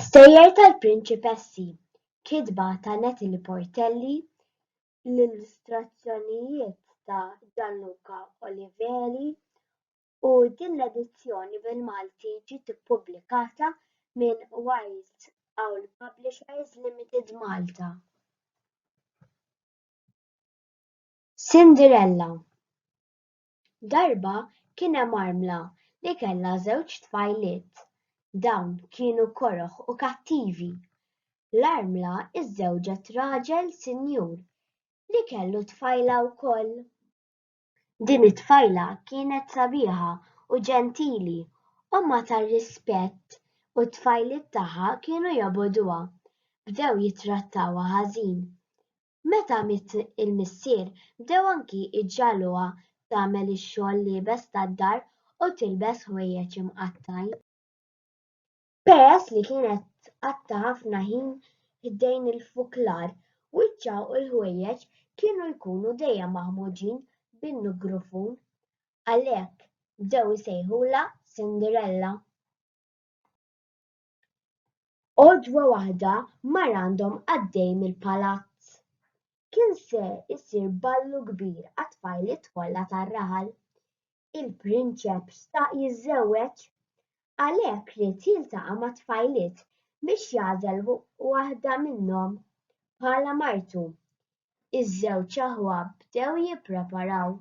Stejjer tal-Prinċipessi, kitba ta' Natalie Portelli, l-illustrazzjonijiet ta' Gianluca Oliveri u din l-edizzjoni bil-Malti ġiet ippubblikata minn Wild Owl Publishers Limited Malta. Cinderella. Darba kien hemm armla li kellha żewġ tfajliet. Dawn kienu koroh u kattivi. L-armla żżewġet raġel sinjur li kellu tfajla wkoll. Din it-tfajla kienet sabiħa u ġentili, ommha ta' rispett u t-tfajliet tagħha kienu jobogħduha. Bdew jittrattawha ħażin. Meta miet il-missier, bdew anki jġagħluha tagħmel ix-xogħol l-iebes tad-dar u tilbes ħwejjeġ imqattgħin. Peress li kienet tqatta' ħafna ħin ħdejn il-fuklar, wiċċha u l-ħwejjeġ kienu jkunu dejjem maħmuġin bin-nugrufun. Għalhekk, bdew isejħulha Cinderella. Għodwa waħda mar għandhom għaddej mill-palazz. Kien se jsir ballu kbir għat-tfajliet kollha tar-raħal. Il-prinċep xtaq jiżżewweġ. Għalhekk ried jiltaqa' mat-tfajliet biex jagħżel waħda minnhom bħala martu. Iż-żewġ aħwa bdew jippreparaw.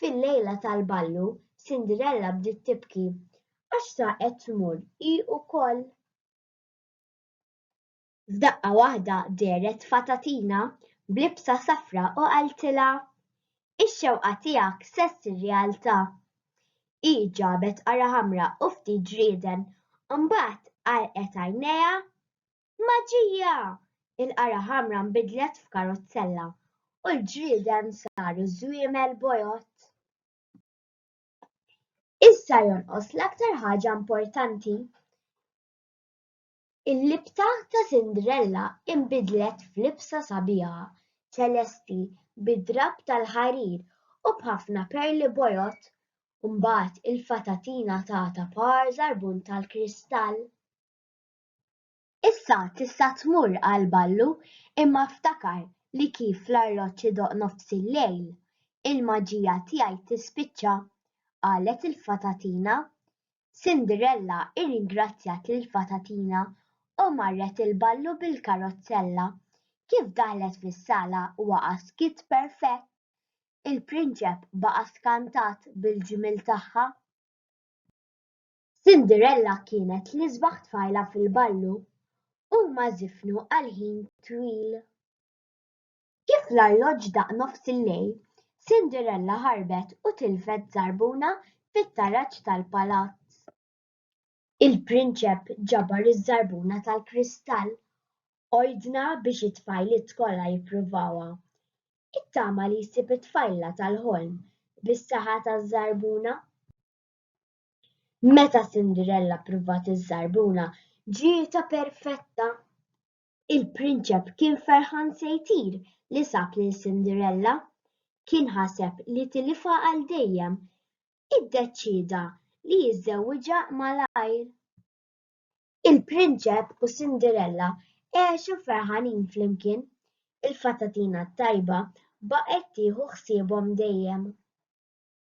Fil-lejla tal-ballu, Cinderella bdiet tibki għax sa qed tmur hi wkoll. F'daqqa waħda dehret fatatina b'libsa safra u qaltilha, Ix-xewqa tiegħek se ssir realtà. Hi ġabet qara ħamra u ftit ġrieden, imbagħad għalqet għajnejha Maġija! Il-qara ħamra nbidlet f'karozzella u l-ġrieden saru żwiemel bojod. Issa jonqos l-aktar ħaġa importanti. Il-libta ta' Cinderella inbidlet f'libsa sabiħa, ċelesti, bid-drapp tal-ħarir u b'ħafna perli bojod. Mbagħad il-fatatina tagħtha par żarbun tal-kristall. Issa tista' tmur għal ballu imma ftakar li kif l-arloġġ idoqq nofs il-lejl, il-maġija tiegħi tispiċċa, qalet il-fatatina. Cinderella irringrazzjat lill-fatatina u marret il-ballu bil-karozzella. Kif daħlet fis-sala waqa' skiet perfett. Il-prinċep baqa' skantat bil-ġmiel tagħha. Cinderella kienet l-isbaħ tfajla fil-ballu. Huma żifnu għal ħin twil. Kif l-arloġġ daqq nofs il-lejl, Cinderella ħarbet u tilfet żarbuna fit-taraġ tal-palazz. Il-prinċep ġabar iż-żarbuna tal-kristall. Ordna biex it-tfajliet kollha jippruvawha. Ittama li jsib it-tfajla tal-ħolm bis-saħħa taż-żarbuna. Meta Cinderella ppruvat iż-żarbuna ġietha perfetta. Il-prinċep kien ferħan se jtir li sab lil Cinderella. Kien ħaseb li tilifha għal dejjem. Iddeċieda li jiżżewwiġha malajr. Il-prinċep u Cinderella għexu ferħanin flimkien. Il-fatatina t-tajba baqgħet tieħu ħsiebhom dejjem.